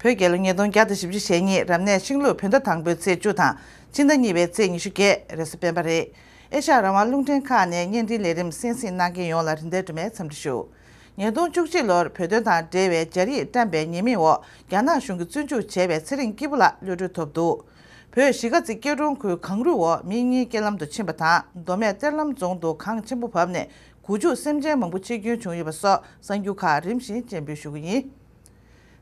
བོད་རྒྱལ་ལོ་ཉིས་སྟོང་བརྒྱ་དང་བཞི་བཅུ་ཞེ་གཉིས་རབ་གནས་ཤིང་ལུགས་བོད་ཟླ་དང་པོའི་ཚེས་བཅུ་དང་སྤྱི་ཟླ་གཉིས་པའི་ཚེས་ཉི་ཤུ་བརྒྱད་རེས་སུ་སྤེན་པ་རེད། ཨེ་ཤ་རང་དབང་རླུང་འཕྲིན་ཁང་ནས་བརྙན་འཕྲིན་ལས་རིམ་གསན་གཟིགས་གནང་མཁན་ཡོངས་ལ་རིན་ཐང་དུ་མའི་འཚམས་འདྲི་ཞུ། ཉིས་སྟོང་བཅུ་གཅིག་ལོར་བོད་དོན་དང་འབྲེལ་བའི་སྦྱར་ཡིག་བཀྲམས་པའི་ཉེས་མིང་འོག་རྒྱ་ནག་གཞུང་གིས་བཙོན་འཇུག་བྱས་པའི་ཚེ་རིང་སྐྱིད་པོ་ལགས་གློད་གྲོལ་ཐོབ་འདུག་བོད་གཞིས་ཀ་རྩེ་སྐྱིད་གྲོང་ཁུལ་གངས་རུད་འོག་མིན་གཉིས་སྐྱེལ་ལམ་དུ་ཕྱིན་པ་དང་མདོ་སྨད་གཏེར་ལམ་རྫོང་དུ་གངས་ཆེན་པོ་བབས་ནས་གུ་ཆུག་སེམས་ཅན་མང་པོ་འཆི་སྐྱོན་བྱུང་ཡོད་པ་སོགས་གསར་འགྱུར་ཁག་རིམ་བཞིན་སྤྱན་འབུལ་ཞུ་གི་ཡིན།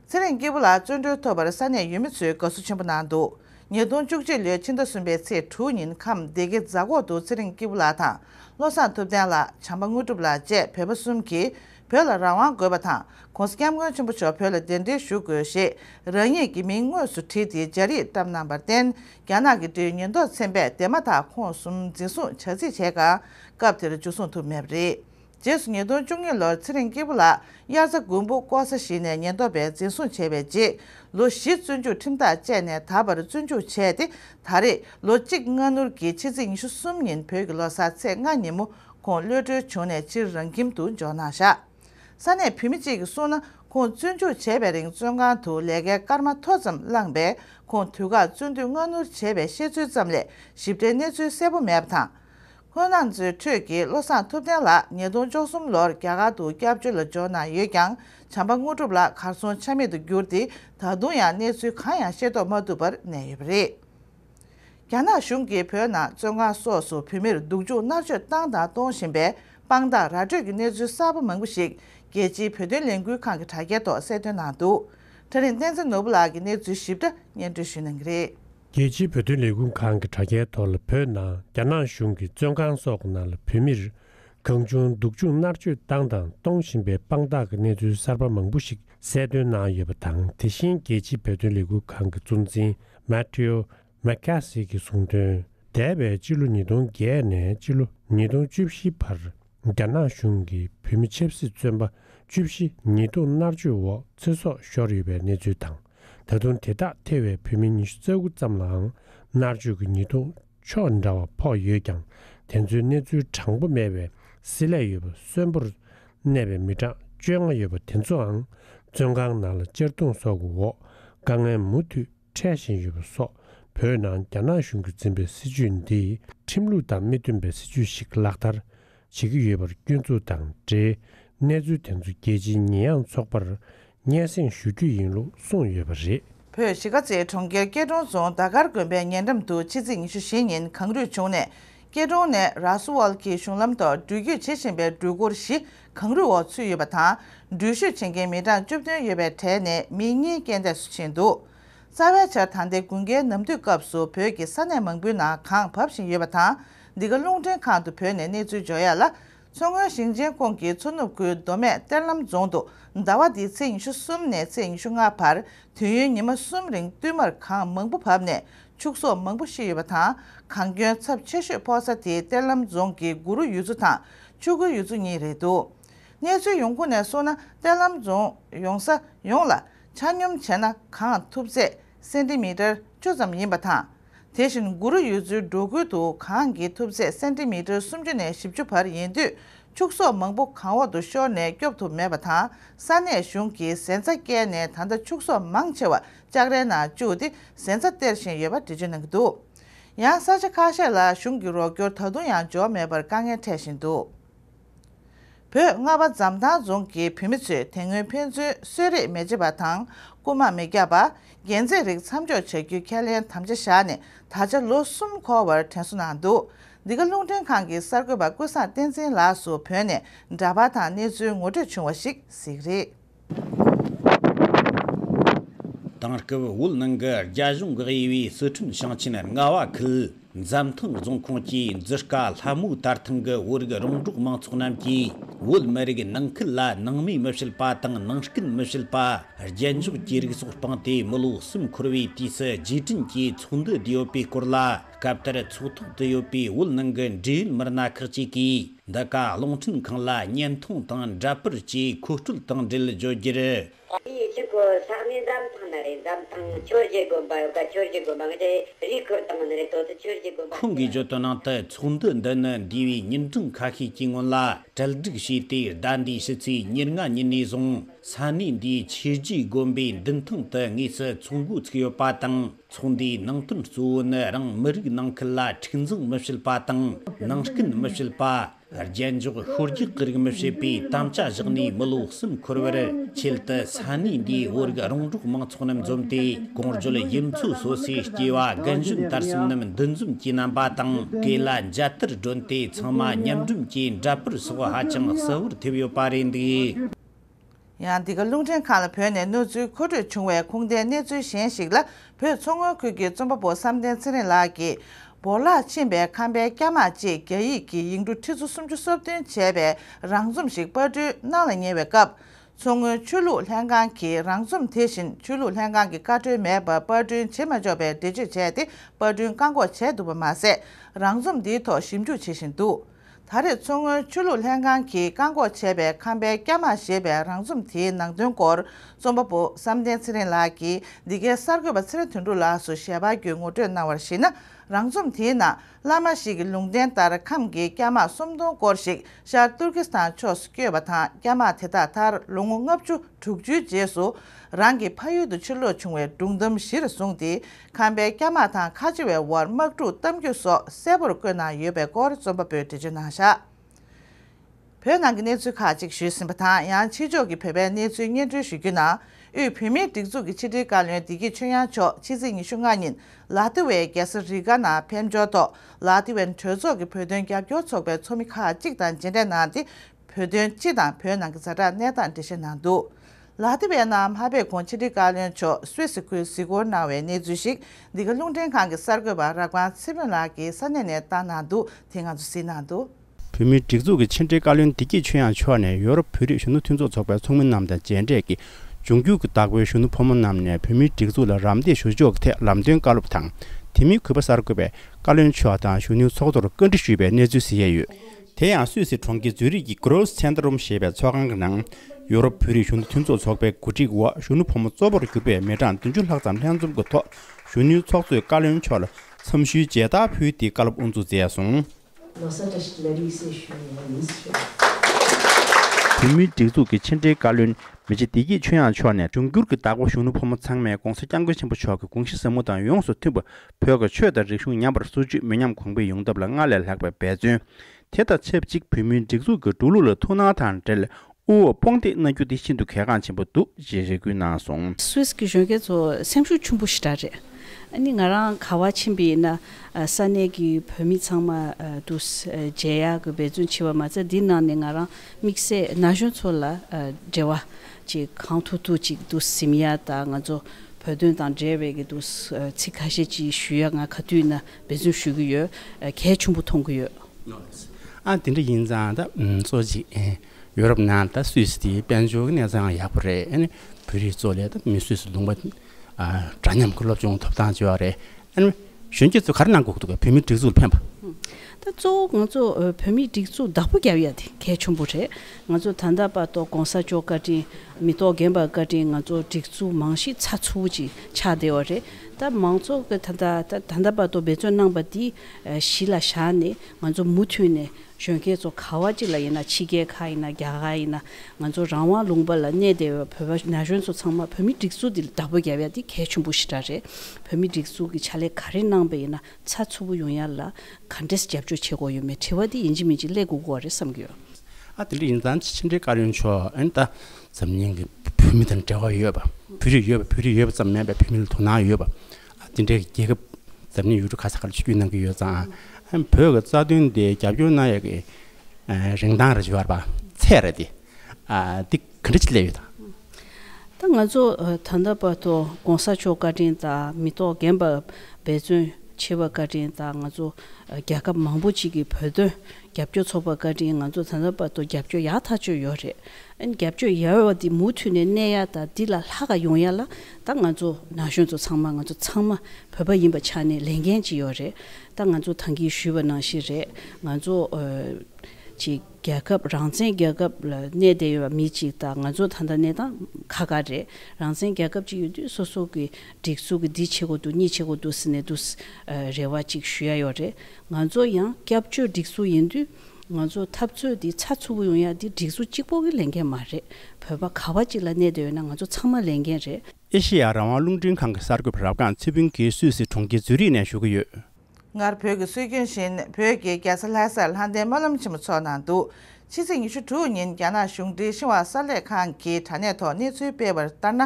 ཚེ་རིང་སྐྱིད་པོ་ལགས་བཙོན་གྲོལ་ཐོབ་པར་ས་གནས་ཡུལ་མི་ཚོས་དགའ་བསུ་ཆེན་པོ་གནང་འདུག་ཉིས་སྟོང་བཅུ་གཅིག་ལོའི་ཕྱི་ཟླ་གསུམ་པའི་ཚེས་དྲུག་ཉིན་ཁམས་སྡེ་དགེ་རྫ་ཁོག་ཏུ་ཚེ་རིང་སྐྱིད་པོ་ལགས་དང་བློ་བཟང་ཐུབ་བསྟན་ལགས་བྱམས་པ་དངོས་གྲུབ་ལགས་བཅས་བོད་པ་གསུམ་གྱིས་བོད་ལ་རང་དབང་དགོས་པ་དང ྋགོང་ས ྋསྐྱབས་མགོན་ཆེན་པོ་མཆོག་བོད་ལ་གདན་འདྲེན་ཞུ་དགོས་ཞེས་རང་ཉིད་ཀྱི་མིང་དངོས་སུ་བྲིས་ཏེ་སྦྱར་ཡིག་བཀྲམ་གནང་པར་བརྟེན་རྒྱ་ནག་གི་དོན་ཉེན་རྡོག་ཚན་པས་དེ་མ་ཐག་ཁོང་གསུམ་འཛིན་བཟུང་བྱ་རྩིས་བྱས་ཀང་སྐབས་དེར་འཇུ་བཟུང་ཐུབ་མེད་པ་རེད། རྗེས་སུ་ཉིས་སྟོང་བཅུ་གཉིས་ལོར་ཚེ་རིང་སྐྱིད་པོ་ལགས་དབྱར་རྩ་དགུན་འབུ་ལྐོག་ཟ་ཞིག་ནས་ཉེན་རྟོག་པས་འཛིན་བཟུང་བྱས་པའི་རྗེས་ལོ་བཞི་བཙོན་འཇུག་ཁྲིམས་ཐག་བཅད་ནས་ད་བར་བཙོན་འཇུག་བྱས་ཏེ་ད་རེས་ལོ་གཅིག་སྔ་སྣུར་གྱི་ཕྱི་ཚེས་ཉི་ཤུ་གསུམ་ཉིན་བོད་ཀྱི་ལོ་སར་ཚེས་ལྔ་ཉིན་མོ་ཁོང་གློད་གྲོལ་བྱུང་ནས་ཕྱིར་རང་ཁྱིམ་དུ་འབྱོར་ན་བཞག། ས་གནས་བུད་མེད་ཅིག་གིས་གསུངས་ན་ཁོང་བཙོན་འཇུག་བྱས་པའི་རིང་བཙོན་ཁང་དུ་ལས་ཀའི་སྐར་མ་མཐོ་ཙམ་བླངས་པས་ཁོང་དུས་བཀག་བཙོན་དུས་སྔ་བསྣུར་བྱས་པའི་བཤད་ཚུལ་ཙམ་ལས་ཞིབ་ཕྲའི་གནས་ཚུལ་གསལ་པོ་མེད་པ་དང། ཁོང་ནང་ཚོའི་ཁྲོད་ཀྱི་བློ་བཟང་ཐུབ་བསྟན་ལགས་ཉིས་སྟོང་བཅོ་གསུམ་ལོར་རྒྱ་གར་དུ་སྐྱབས་བཅོལ་ལ་འབྱོར་གནང་ཡོད་ཀྱང་བྱམས་པ་དངོས་གྲུབ་ལགས་གར་སོང་ཆ་མེད་དུ་གྱུར་ཏེ་ད་དུང་ཡང་གནས་ཚུལ་གང་ཡང་ཤེས་རྟོགས་མ་ཐུབ་པར་གནས་ཡོད་པ་རེད། རྒྱ་ནག་གཞུང་གིས་བོད་ནང་བཙོན་ཁང་སོགས་སུ་བོད་མིར་སྡུག་སྦྱོང་མནར་གཅོད་བཏང་དང་གཏོང་བཞིན་པའི་དཔང་རྟགས་ར་སྤྲོད་ཀྱི་གནས་ཚུལ་གསར་པ་མང་པོ་ཞིག་རྒྱལ་སྤྱིའི་བོད་དོན་ལས་འགུལ་ཁང་གི་དྲ་རྒྱའི་ཐོག་གསལ་སྟོན་གནང་འདུག་ད་རིང་བསྟན་འཛིན་ནོར་བུ་ལགས་ཀྱིས་གནས་ཚུལ་ཞིབ་ཕྲ་སྙན་སྒྲོན་ཞུས་གནང་གི་རེད། རྒྱལ་སྤྱིའི་བོད་དོན་ལས་འགུལ་ཁང་གི་དྲ་རྒྱའི་ཐོག་ལ་བོད་ནང་རྒྱ་ནག་གཞུང་གིས་བཙོན་ཁང་སོགས་ནང་ལ་བོད་མིར་གང་བྱུང་སྡུག་སྦྱོང་མནར་གཅོད་བཏང་དང་གཏོང་བཞིན་པའི་དཔང་རྟགས་ཀྱི་གནས་ཚུལ་གསར་པ་མང་པོ་ཞིག་གསལ་སྟོན་གནང་ཡོད་པ་དང་དེ་བཞིན་རྒྱལ་སྤྱིའི་བོད་དོན་ལས་འགུལ་ཁང་གི་གཙོ་འཛིན Matthew McCasey། ཀྱིས་གསུངས་དོན། འདས་པའི་སྤྱི་ལོ་ཉིས་སྟོང་བརྒྱད་ནས་སྤྱི་ལོ་ཉིས་སྟོང་བཅུ་བཞིའི་བར་རྒྱ་ནག་གཞུང་གིས་བོད་མི་ཆབ་སྲིད་བཙོན་པ་བཅུ་བཞི་ཉེས་རྡུང་མནར་གཅོད་འོག་ཚེ་སྲོག་ཤོར་ཡོད་པའི་གནས་ཚུལ་དང་ད་དུང་དེ་དག་ཐེ་བའི་བོད་མི་ཉི་ཤུ་རྩ་དགུ་ཙམ་ལའང་མནར་གཅོད་ཀྱི་ཉེས་རྡུང་ཕྱོགས་འདྲ་བ་ཕོག་ཡོད་ཀྱང་དེ་ཚོའི་གནས་ཚུལ་དྲང་པོ་མེད་པའི་བསྲེ་ལྷད་ཡོད་པ་གསོན་པོར་གནས་པའི་མི་དྲག་སྤྱོད་ལྔ་ཡོད་པ་དེ་ཚོའང་བཙོན་ཁང་ནང་ལ་གཅར་རྡུང་སོགས་ཀྱི་འོག་དཀའ་ངལ་མུ་མཐུད་འཕྲད་བཞིན་ཡོད་པ་སོགས་བོད་ནང་རྒྱ་ནག་གཞུང་གིས་འཛིན་པའི་སྲིད་བྱུས་འདི་ཁྲིམས་ལུགས་དང་མི་མཐུན་པའི་སྲིད་བྱུས་ཤིག་ལག་བསྟར་བྱེད་ཀྱི་ཡོད་པར་སྐྱོན་འཛུགས་དང་འབྲེལ་གནས་ཚུལ་དེ་ཚོ་རྒྱལ་སྤྱིའི་ཉེས་ཡངས་ཚོགས་པར་སྙན་གསེང་ཞུ་རྒྱུ་ཡིན་ལུགས་གསུངས་ཡོད་པ་རེད། བོད་གཞིས་ཀ་རྩེ་གྲོང་ཁྱེར་སྐྱེ་གྲོང་རྫོང་རྡ་དཀར་དགོན་པའི་ཉེ་འགྲམ་དུ་ཕྱི་ཚེས་ཉི་ཤུ་བཞི་ཉིན་གངས་རུད་བྱུང་ནས་སྐྱེ་གྲོང་ནས་ར་སུ་ཝལ་གྱི་གཞུང་ལམ་ཐོག་འགྲུལ་བསྐྱོད་བྱེད་བཞིན་པའི་འགྲུལ་འཁོར་བཞི་གངས་རུད་འོག་ཚུད་ཡོད་པ་དང་འགྲུལ་བཞུད་བྱེད་མཁན་མི་གྲངས་བཅུ་བདུན་ཡོད་པའི་གྲས་ནས་མི་གཉིས་རྐྱེན་འདས་སུ་ཕྱིན་འདུག་རྩ་བའི་ཆར་ད་ལྟའི་དགུན་ཁའི་ནམ་དུས་སྐབས་སུ་བོད་ཀྱི་ས་གནས་མང་པོའི་ནང་གངས་བབས་བཞིན་ཡོད་པ་དང་འདི་ག་རླུང་འཕྲིན་ཁང་དུ་བོས་ནས་གནས་ཚུལ་འབྱོར་ཡག་ལ། མཚོ་སྔོན་ཞིང་ཆེན་ཁོངས་ཀྱི་མཚོ་ནུབ་ཁུལ་མདོ་སྨད་གཏེར་ལམ་རྫོང་དུ་ཟླ་བ་འདིའི་ཚེས་ཉི་ཤུ་གསུམ་ནས་ཚེས་ཉི་ཤུ་ལྔ་བར་དུས་ཡུན་ཉི་མ་གསུམ་རིང་བསྟུད་མར་གངས་མང་པོ་བབས་ནས་ཕྱུགས་ཟོག་མང་པོ་ཤི་ཡོད་པ་དང་གངས་སྐྱོན་ཚབས་ཆེ་ཤོས་ཕོག་ས་དེ་གཏེར་ལམ་རྫོང་གི་གུ་རུ་ཡུལ་ཚོ་དང་ཆུ་ཁུལ་ཡུལ་ཚོ་གཉིས་རེད་འདུག་གནས་ཚུལ་ཡོང་ཁུངས་ནས་གསུངས་ན་གཏེར་ལམ་རྫོང་ཡོང་ས་ཡོངས་ལ་ཆ་སྙོམས་བྱས་ན་གངས་ཐུབ་ཚད་སེ་འདི་མི་ཀྲར་བཅུ་ཙམ་ཡིན་པ་དང། དེ་བཞིན་དགུ་རུ་ཡུལ་ཚོའི་འབྲོག་ཁུལ་དུ་གངས་ཀྱི་ཐུབ་ཚད་སེན་ཏི་མི་ཀྲར་སུམ་ཅུ་ནས་བཞི་བཅུ་བར་ཡིན་དུས་ཕྱུགས་ཟོག་མང་པོ་གངས་འོག་ཏུ་ཤོར་ནས་སྐྱོབ་ཐུབ་མེད་པ་དང་ས་གནས་གཞུང་གིས་གཟན་རྩྭ་བསྐྱལ་ནས་ད་ལྟ་ཕྱུགས་ཟོག་མང་ཆེ་བ་ལྕགས་རའི་ནང་བཅུག་སྟེ་གཟན་རྩྭ་སྟེར་བཞིན་ཡོད་པ་འགྲེལ་བརྗོད་གནང་གི་འདུག་ཡང་ས་ཆ་ཁ་ཤས་ལ་གཞུང་གི་རོགས་སྐྱོར་ད་དུང་ཡང་འབྱོར་མེད་པར་དཀའ་ངལ་འཕྲད་བཞིན་འདུག། བོད་རྔ་བ་འཛམ་ཐང་རྫོང་གི་བུད་མེད་ཚོས་དེ་སྔོན་ཕན་ཚུན་གསོད་རེས་མེ་ལྕེ་བ་དང་རྐུན་མ་མེ་བརྒྱབ་པ། རྒྱན་རྩེད་རིགས་མཚམས་འཇོག་བྱ་རྒྱུའི་ཁས་ལེན་དམ་བཅའ་བཞག་ནས་ད་ཆ་ལོ་གསུམ་འཁོར་བར་དྲན་གསོ་གནང་འདུག་འདི་ག་རླུང་འཕྲིན་ཁང་གི་གསར་འགོད་པ་ཀུན་བཟང་བསྟན་འཛིན་ལགས་སུ་བོད་ནས་འདྲ་པར་དང་གནས་ཚུལ་ངོ་སྤྲོད་བྱུང་བ་ཞིག་གཟིགས་རེས། དེང་སྐབས་བོད་ནང་གི་རྒྱ་གཞུང་གི་དབྱེ་བའི་སི་ཁྲོན་ཞིང་ཆེན་རྔ་བ་ཁུལ་འཛམ་མཐོང་རྫོང་ཁོངས་ཀྱི་མཛོད་དཀའ་ལྷ་མོའི་དར་ཐང་གི་བོད་རིགས་རོང་འབྲོག་མང་ཚོགས་རྣམས་ཀྱིས་བོད་མི་རིགས་ནང་ཁུལ་ལ་ནང་མི་མི་བྱེད་པ་དང་ནང་རྐུན་མི་བྱེད་པ། རྒྱལ་འཇོག་ཅེས་རིགས་སོགས་སྤངས་ཏེ་མི་ལོ་གསུམ་འཁོར་བའི་དུས་སུ་རྗེས་དྲན་གྱི་ཚོགས་འདུ་བསྡུས་ཡོད་པའི་སྐོར་ལ། སྐབས་དེར་ཚོགས་ཐོག་ཏུ་ཡོད་པའི་བོད་ནང་གི་འབྲེལ་ཡོད་མི་སྣ་ཁག་ཅིག་གིས་འདི་ག་རླུང་འཕྲིན་ཁང་ལ་བརྙན་ཐུང་དང་འདྲ་པར་བཅས་མཁོ་སྤྲོད་དང་འབྲེལ་བརྗོད་རྒྱུར། ཁོང་གིས་ཕྱི་གོ་ས་ནི་འཛམ་ཐང་ན་རེད་འཛམ་ཐང་ཆོས་རྗེ་དགོན་པ་ཡོད་ཀ་ཆོས་རྗེ་དགོན་པ་ངེས་དེ་རིགས་ཁུར་བཏང་ནི་རེད་དོ་ཏི་ཆོས་རྗེ་དགོན་པ་ཁོང་གིས་བརྗོད་དོན་ནང་དུ་ཚོགས་འདུ་འདི་ནི་འདས་པའི་ཉིན་གྲངས་ཁ་ཤས་ཀྱི་སྔོན་ལ་གྲལ་བསྒྲིགས་བྱས་ཏེ་ཟླ་འདིའི་ཕྱི་ཚེས་ཉེར་ལྔ་ཉིན་ནས་བཟུང་ས་གནས་འདིའི་ཆོས་རྗེ་དགོན་པའི་མདུན་ཐང་དུ་དངོས་སུ་ཚོགས་འགོ་ཚུགས་ཡོད་པ་དང། ཚོགས་འདུའི་ནང་དོན་གཙོ་བོ་ནི་རང་མི་རིགས་ནང་ཁུལ་ལ་འཁྲིག་འཛིང་མི་བྱེད་པ་དང་ནང་རྐུན་མི་བྱེད་པ། རྒྱལ་འཇོག་ཤོར་རྒྱག་གི་རིགས་མི་བྱེད་པའི་དམ་བཅའ་བཞག་ནས་མི་ལོ་གསུམ་འཁོར་བར་ཆེད་དུ་ས་གནས་འདིའི་བོད་རིགས་རོང་འབྲོག་མང་ཚོགས་རྣམས་འཛོམས་ཏེ་གོང་བརྗོད་དབྱིབས་མཚོ་སོ་སོའི་སྐྱེ་བ་རྒན་གཞོན་དར་གསུམ་རྣམས་འདུ་འཛོམས་ཀྱིས་རྣམ་པ་དང་སྐེ་ལ་འཇའ་སྟར་སྒྲོན་ཏེ་ཚང་མ་མཉམ་སྒྲོན་གྱིས་འདྲ་སྤུར་སོགས་ཧ་ཅང་གསལ་བོར་ཐེབས་ཡོད་པ་རེད་འདུག། ཡང་འདི་ག་རླུང་འཕྲིན་ཁང་ལ་བོད་ནས་གནོད་འཚེའི་མཁོ་སྤྲོད་བྱུང་བའི་ཁུངས་ལྡན་གནས་ཚུལ་གཞན་ཞིག་ལ་བོད་མཚོ་སྔོན་ཁུལ་གྱི་རྩོམ་པ་པོ་བསམ་གཏན་ཚེ་རིང་ལགས་ཀྱིས། བོར་བརླག་ཕྱིན་པའི་ཁམས་པའི་སྐྱ་དམག་ཅེས་རྒྱ་ཡིག་གི་ཡིག་འབྲུ་ཁྲི་ཚོ་སུམ་ཅུ་གསོབ་སྟོན་བྱས་པའི་རང་རྩོམ་ཞིག་དཔར་སྐྲུན་གནང་ལ་ཉེ་བའི་སྐབས། མཚོ་སྔོན་ཆོས་ལུགས་ལྷན་ཁང་གིས་རང་རྩོམ་དེ་བཞིན་ཆོས་ལུགས་ལྷན་ཁང་གི་བཀའ་འཁྲོལ་མེད་པར་དཔར་སྐྲུན་བྱེད་མ་ཆོག་པའི་འགྲེལ་བརྗོད་བྱས་ཏེ་དཔར་སྐྲུན་བཀག་འགོག་བྱས་འདུག་པ་མ་ཟད། རང་རྩོམ་འདིའི་ཐོག་ཞིབ་འཇུག་བྱེད་བཞིན་འདུག། ད་རེས་མཚོ་སྔོན་ཆོས་ལུགས་ལྷན་ཁང་གིས་བཀག་འགོག་བྱས་པའི་ཁམས་པའི་སྐྱ་དམག་ཞེས་པའི་རང་རྩོམ་དེའི་ནང་དོན་སྐོར་རྩོམ་པ་པོ་བསམ་གཏན་ཚེ་རིང་ལགས་ཀྱིས་འདི་གའི་གསར་འགོད་པ་ཚེ་རིང་དོན་གྲུབ་ལགས་སུ་ཞལ་པར་བརྒྱུད་ངོ་སྤྲོད་གནང་བར་གཞིགས་ན་རང་རྩོམ་དེའི་ནང་བླ་མ་ཞིག་གི་ལུང་བསྟན་ལྟར་ཁམས་ཀྱི་སྐྱ་དམག་སུམ་སྟོང་སྐོར་ཞིག་ཤར་ཏུར་ཀི་སི་ཐན་ཕྱོགས་སུ་བསྐྱོད་པ་དང་སྐྱ་དམག་དེ་དག་མཐར་ལོ་ངོ་ལྔ་བཅུ་དྲུག་ཅུའི་རྗེས་སུ་རང་གི་ཕ་ཡུལ་དུ་ཕྱིར་ལོག་བྱུང་བའི་སྒྲུང་གཏམ་གཞིར་བཟུང་སྟེ་ཁམས་པའི་སྐྱ་དམག་དང་ཁ་ཆེ་བའི་དབར་དམག་འཁྲུག་གཏམ་རྒྱུད་སོགས་གསལ་པོར་བཀོད་གནང་ཡོད་པའི་སྐོར་རྩོམ་པ་པོས་འགྲེལ་བརྗོད་གནང་བཞག་བོད་ནང་གི་གནས་ཚུལ་ཁག་ཅིག་ཞུས་ཟིན་པ་དང་ཡང་ཕྱི་ཕྱོགས་ཀྱི་བོད་པའི་གནས་ཚུལ་སྙན་སྒྲོན་ཞུ་རྒྱུ་ན། དབུས་བོད་མིའི་སྒྲིག་འཛུགས་ཀྱི་ཕྱི་དྲིལ་བཀའ་བློན་བདེ་སྐྱིད་ཆོས་དབྱངས་མཆོག་ཕྱི་ཚེས་ཉི་ཤུ་ལྔ་ཉིན་ལཱ་ཏི་ཝའི་རྒྱལ་ས་རི་གྷ་ན་ཕེབས་འབྱོར་ཐོག་ལཱ་ཏི་ཝའི་གྲོས་ཚོགས་ཀྱི་བོད་དོན་རྒྱབ་སྐྱོར་ཚོགས་པའི་ཚོགས་མི་ཁག་ཅིག་དང་མཇལ་འཕྲད་གནང་སྟེ་བོད་དོན་སྤྱི་དང་བོད་ནང་གི་གཟའ་གྲྭ་གནས་སྟངས་འགྲེལ་བཤད་གནང་འདུག། ལ་དེ་བས་ན་མ་དཔེ་ཁོང་ཕྱི་དྲིལ་བཀའ་བློན་མཆོག་སུད་སི་ཁུལ་གཟིགས་སྐོར་གནང་བའི་གནས་ཚུལ་ཞིག་འདི་ག་རླུང་འཕྲིན་ཁང་གི་གསར་འགོད་པ་རབ་གང་ཚེ་བོན་ལགས་ཀྱི་ས་གནས་ནས་བཏང་གནང་འདུག་དེ་ང་ཚོ་གཟིགས་གནང་འདུག། བོད་མིའི་སྒྲིག་འཛུགས་ཀྱི་ཕྱི་འབྲེལ་བཀའ་བློན་བདེ་སྐྱིད་ཆོས་དབྱངས་མཆོག་ནས་ཡོ་རོབ་བོད་རིགས་གཞོན་ནུ་མཐུན་ཚོགས་ཚོགས་པའི་ཚོགས་མི་རྣམས་དང་མཇལ་འཕྲད་ཀྱིས་འབྱུང་འགྱུར་གྱི་བདག་པོའི་གཞོན་ནུ་ཕོ་མོ་རྣམས་ནས་བོད་མིའི་སྒྲིག་འཛུགས་ལ་རམ་འདེགས་ཞུ་ཕྱོགས་ཀྱི་ཐད་ལམ་སྟོན་བཀའ་སློབ་དང་དེ་མིན་གུས་པ་གསར་འགོད་པས་བཀའ་བློན་མཆོག་དང་གཞོན་ནུའི་ཚོགས་གཙོར་བཀའ་འདྲི་ཞུས་པའི་གནས་ཚུལ་གཟིགས་ཡས་ཡོད། དེ་ཡང་སུད་སི་གྲོང་ཁྱེར་ཛུ་རིག་གི Gross Zentrum ཞེས་པའི་ཚོགས་ཁང་གི་ནང། ཡུ་རོབ་བོད་རིགས་གཞོན་ནུ་མཐུན་ཚོགས་ཚོགས་པའི་གོ་སྒྲིག་འོག་གཞོན་ནུ་ཕོ་མོ་གཙོ་བོར་གྱུར་པའི་མི་གྲངས་བདུན་ཅུ་ལྷག་ཙམ་ལྷན་འཛོམས་ཀྱི་ཐོག་གཞོན་ནུའི་ཚོགས་གཙོས་བཀའ་བློན་མཆོག་ལ་འཚམས་ཞུའི་མཇལ་དར་ཕུལ་ཏེ་བཀའ་སློབ་དབུ་འཛུགས་མཛད་སོང། བོད་མིའི་སྒྲིག་འཛུགས་ཀྱི་ཕྱི་འབྲེལ་བཀའ་བློན་མི་རྗེ་བདེ་སྐྱིད་ཆོས་དབྱངས་མཆོག་ནས་འབྱུང་འགྱུར་གྱི་བདག་པོ་གཞོན་ནུ་ཕོ་མོ་ཚང་མས ྋགོང་ས ྋསྐྱབས་མགོན་ཆེན་པོ་མཆོག་གི་དགོངས་གཞི་ཟབ་མོ་དང་ཡོངས་སུ་མཐུན་པ་བོད་ཀྱི་ཆོས་དང་རིག་གཞུང་ཉམས་པར་གསོད་བྱེད་མི་ཉམས་གོང་འཕེལ་ཡོང་ཐབས་ལ་སྔར་ལས་ལྷག་པའི་འབད་བརྩོན། དེ་དང་ཆབས་ཅིག་བོད་མིའི་སྒྲིག་འཛུགས་ཀྱི་འགྲོ་ལུགས་ལ་ཐུགས་སྣང་དང་འབྲེལ་དབུ་འོག་དཔུང་འདེགས་གནང་རྒྱུ་དེ་ཤིན་ཏུ་གལ་འགངས་ཆེན་པོ་འདུག་ཅེས་རེ་སྐུལ་གནང་སོང། Swiss གྱི་གཞོན་སྐྱེས་ཚོ་སེམས་ཤུགས་ཆུང་པོ་ཞེ་དྲག་རེད། ཨ་ནི་ང་རང་ག་བ་ཕྱིན་པའི་ན་ས་གནས་ཀྱི་བོད་མི་ཚང་མ་དུ་བྱེད་ཡག་གི་འབད་བརྩོན་བྱེད་པ་མ་ཚད་འདི་ནང་ནས་ང་རང་དམིགས་བསལ་ན་གཞོན་ཚོ་ལ་འབྲེལ་བ་ཅིག་གང་ཐུག་ཐུག་ཅིག་འདུག་ཟིམ་ཡ་ད་ང་ཚོ་བོད་དོན་དང་འབྲེལ་བའི་གི་འདུག་ཚིག་ཁ་ཤས་ཅི་ཞུ་ཡ་ང་ག་དུས་ན་འབད་བརྩོན་ཞུ་གི་ཡོད་གལ་ཆུང་པོ་མཐོང་གི་ཡོད། ཨ་དེ་འདྲ་ཡིན་ཙང་ད་གཙོ་ཅིག་ཡོ་རོབ་ནང་ད་སུད་སི་དེའི་དཔལ་འབྱོར་གི་གནས་ཚང་ཡག་པོ་རེད་ཨ་ནི་བོད་རིགས་གཙོ་ལས་ད་མི་སུད་སི་ལུང་པ་འདྲ་མཉམ་གི་སློབ་སྦྱོང་ཐོབ་ཐང་བྱོས་ཡག་རེད་གཞོན་སྐྱེས་ཚོས་ག་རེ་གནང་དགོས་འདུག་བོད་མིའི་སྒྲིག་འཛུགས་ལ་ཕན་པ། ད་གཙོ་བོ་ང་ཚོ་བོད་མིའི་སྒྲིག་འཛུགས་བདག་པོ་རྒྱབ་ཡ་དེ་གལ་ཆེན་པོ་རེད། ང་ཚོ་ད་ལྟ་པ་ཏོག་གོང་ས་མཆོག་བཀའ་དྲིན། མི་ཏོག་རྒན་པ་བཀའ་དྲིན་ང་ཚོ་སྒྲིག་འཛུགས་མང་ཤི་ཚ་ཚུར་བུ་ཅིག་ཆགས་བསྡད་བ་རེད། ད་མང་ཚོགས་ཀྱི་ད་ལྟ་པ་ཏོག་འབད་བརྩོན་གནང་པ་དེ་གཞི་ལ་བཞག་ནས་ང་ཚོ་མུ་མཐུད་ནས་གཞོན་སྐྱེས་ཚོ་ག་བ་ཅིག་ལ་ཡིན་ན་ཕྱི་རྒྱལ་ཁ་ཡིན་ན་རྒྱ་གར་ཡིན་ན་ང་ཚོ་རང་དབང་ལུང་པ་ལ་གནས་བདེ་བའི་བོད་པ་ན་གཞོན་ཚོ་ཚང་མ་བོད་མི་སྒྲིག་འཛུགས་འདི་ལ་བདག་པོ་རྒྱབ་ཡ་འདི་གལ་ཆུང་པོ་ཞིག་འདྲ་རེད་བོད་མི་སྒྲིག་འཛུགས་ཀྱི་ཕྱག་ལས་ག་རེ་གནང་པ་ཡིན་ན་ཚ་ཚུར་བུ་ཡོང་ཡ་ལ་ག་འདྲེས་རྒྱབ་སྐྱོར་བྱེད་དགོས་ཡོད་མེད་དྲི་བ་འདི་ཡིན་གཅིག་མིན་གཅིག་སླད་དགོས་དགོས་བ་རེད་བསམ་གྱི་ཡོད། ཨ་དེ་འདྲ་ཡིན་ཙང་ཕྱི་འབྲེལ་བཀའ་བློན་མཆོག་ཨན་ད་འཛམ་གླིང་གི་བོད་མི་དང་འབྲེལ་བ་ཡོད་པ་བོད་རིགས་ཡོད་པ་བོད་རིགས་ཡོད་པ་ཙམ་མེད་པའི་བོད་མི་ལ་དོ་སྣང་ཡོད་པ་འདི་འདྲའི་རྒྱལ་ཁབ་འཛམ་གླིང་ཡུལ་གྲུ་ག་ས་གར་ཆུ་རྒྱུས་གནང་གི་ཡོད་ཙང་བོད་ཀྱི་རྩ་དོན་དེ་རྒྱབ་སྐྱོར་གནང་ཡག་གི་རིན་ཐང་རེད་ཅོར་པ་ཚད་རེད་དེ་འདི་ག་འདྲ་ཅི་སླད་ཡོད་དམ། ད་ང་ཚོ་ད་ལྟ་བར་དུ་གོང་ས་མཆོག་བཀའ་དྲིན་དང་མི་ཐོག་རྒན་པ་འབད་བརྩོན་ཆེ་བ་བཀའ་དྲིན་དང་ང་ཚོ་རྒྱལ་ཁབ་མང་པོ་ཅིག་གི་བོད་དོན་རྒྱབ་སྐྱོར་ཚོགས་པ་བཀའ་དྲིན་ང་ཚོ་ད་ལྟ་བར་དུ་རྒྱབ་སྐྱོར་ཡག་ཐག་ཆོད་ཡོད་རེད་རྒྱབ་ཆོས་ཡར་བ་འདི་མུ་མཐུད་ནས་གནས་ཡ་དང་འདི་ལ་ལྷག་ག་ཡོང་ཡ་ལ་ད་ང་ཚོ་ན་གཞོན་ཚོ་ཚང་མ་ང་ཚོ་ཚང་མ་བོད་པ་ཡིན་པ་ཆ་ནས་ལས་འགན་ཅི་ཡོད་རེད་ད་ང་ཚོ་ཐང་གིས་ཞུས་པ་ནང་བཞིན་རེད་ང་ཚོ་ཆེ་རྒྱལ་ཁབ་རང་བཙན་རྒྱལ་ཁབ་ལ་གནས་བསྡད་ཡོད་པ་མི་གཅིག་དང་ང་ཚོ་ད་ལྟ་གནས་སྟངས་ཁ་ཁ་རེད་རང་བཙན་རྒྱལ་ཁབ་ཅིག་ཡོད་དུས་སོ་སོ་གི་སྒྲིག་འཛུགས་ཀྱི་འདི་བྱེད་དགོས་འདུག་གཉིས་བྱེད་དགོས་འདུག་ཟེར་ནས་འདུག་རེ་བ་ཅིག་ཞུ་ཡ་ཡོད་རེད་ང་ཚོ་ཡང་སྐྱབས་བཅོལ་སྒྲིག་འཛུགས་ཡིན་དུས་ང་ཚོ་འཐབ་རྩོད་འདི་ཚ་ཚུད་པོ་ཡོང་ཡག་འདི་སྒྲིག་འཛུགས་གཅིག་པོ་གི་ལས་འགན་མ་རེད་བོད་པ་ག་བ་གཅིག་ལ་གནས་འདོད་ཡོད་ན་ང་ཚོ་ཚང་མ་ལས་འགན་རེད། ཨེ་ཤེ་ཡ་རང་དབང་རླུང་འཕྲིན་ཁང་གི་གསར་འགོད་པ་རབ་སྒང་ཚེ་ཕུན་གྱིས་སུད་སི་གྲོང་ཁྱེར་ཛུ་རིག་ནས་ཞུ་གི་ཡོད། སྔར་བོད་ཀྱི་སྲོལ་རྒྱུན་བཞིན་བོད་ཀྱི་རྒྱལ་ས་ལྷ་སར་ལྷ་ལྡན་སྨོན་ལམ་ཆེན་མོ་འཚོགས་གནང་འདུག་ཕྱི་ཚེས་ཉི་ཤུ་དྲུག་ཉིན་རྒྱ་ནག་གཞུང་འབྲེལ་ཤིང་བ་གསར་ལས་ཁང་གི་དྲ་གནས་ཐོག་གནས་ཚུལ་སྤེལ་བར་ལྟར་ན།